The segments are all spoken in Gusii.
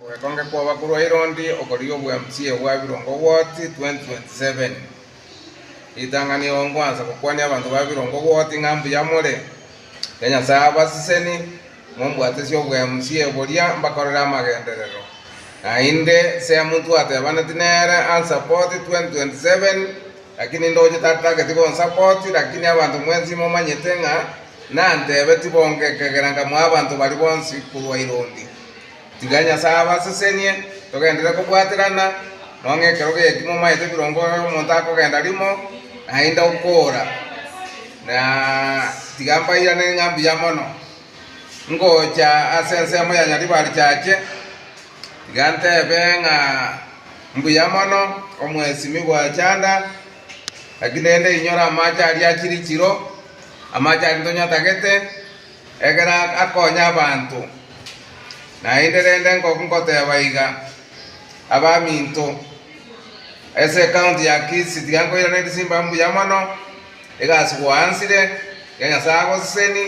Ogwekonge kw'abakuru a Irondi okorigia obweamsie obwa Birongo Woti 2027. Ritang'ani igoro ngwansa gokwania abanto ba Birongo Woti ng'a mbuya more, ya Nyasae abasiseni, mombwatesie obweamsie boria mbakorere amagenderero, naende seamonto atebaneti nere ansapoti 2027, lakini ndoche tatageti gonsapoti, lakini abanto mwensi momanyete ng'a nantebeti bonge ekegera nkamwa abanto baria bonsi korwa Irondi. Tiga Nyasae abasesenie, togenderere kobwaterana, nonye ekero geki momaete ebirongo omonto akogenda rimo, naende okoora, na tiga mbairanere ng'a mbuya mono. Ngocha ase ensemo ya Nyaribari chache, tiga ntebe ng'a mbuya mono, omwesimi bw'echanda, naki nende inyora amache aria achirichiro, amache aria tonyotagete, Ekero akonya abanto, naende rende ngoteeba iga, abaminto, ense ekaunti ya Kisii tiga nkoirana ebisimba mbuya mono, iga ase gwansire, iga Nyasae agoseseni,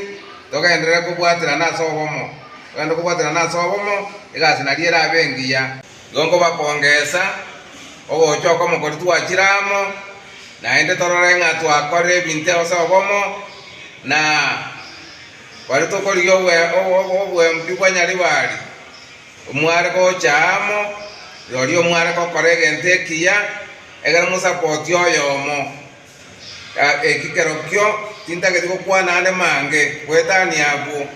togenderere kobwaterana ase obomo, togende kobwaterana ase obomo, iga ase nario erabe engiya. Igo nkobakongeesa ogocha oko mokori twachire amo, naende torore ng'a twakorire ebinto ase obomo, na baria tokorigia oboembi bwa Nyaribari, omware gocha amo, rirorio mware gokora egento ekiya, egere mosapoti oyomo. Eki kerokio tintageti gokwana aande mange, goetania abwo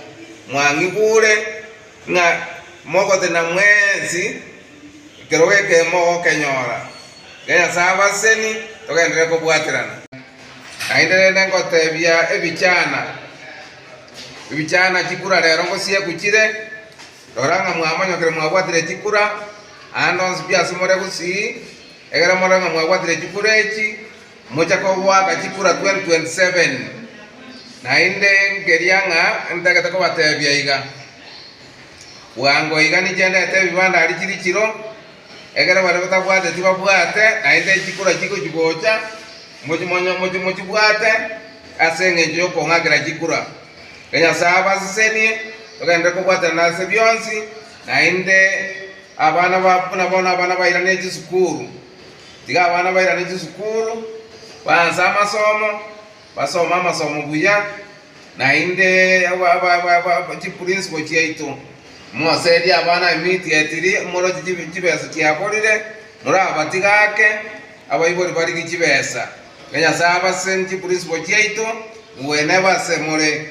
mwang'igure. Ng'a mogotena mwensi ekero gekemo ogokenyora, Iga Nyasae abaseni, togenderere kobwaterana. Naende rende ngotebia ebichana, Ebichana chikura rero ngosieku chire, rora ng'a mwamonyokire mwabwatire chikura, naende onsi biasumore gusii, egere morore ng'a mwabwatire chikura echi, Moche kogoaka chikura 2027, naende nkeria ng'a ntagete kobatebia iga. Bwango iga nichendete ebibanda aria chiri chiro, ekero baria batabwate tibabwate, naende chikura chigochia gocha mochi mochibwate ase engencho y'okong'akera chikura. Iga Nyasae abasesenie, togenderere kobwatanera ase bionsi, naende abana babo buna bono abana bairane chisukuru. Tiga abana bairane chisukuru, baanse amasomo, basome amasomo buya, naende chiprinciple chiaito. Moserie abana emiti etiri, moroche chibesa chiaborire, morabatigake abaibori barigie chibesa. Ng'a Nyasae abase ne chiprinciple chiaito, ngwene base more.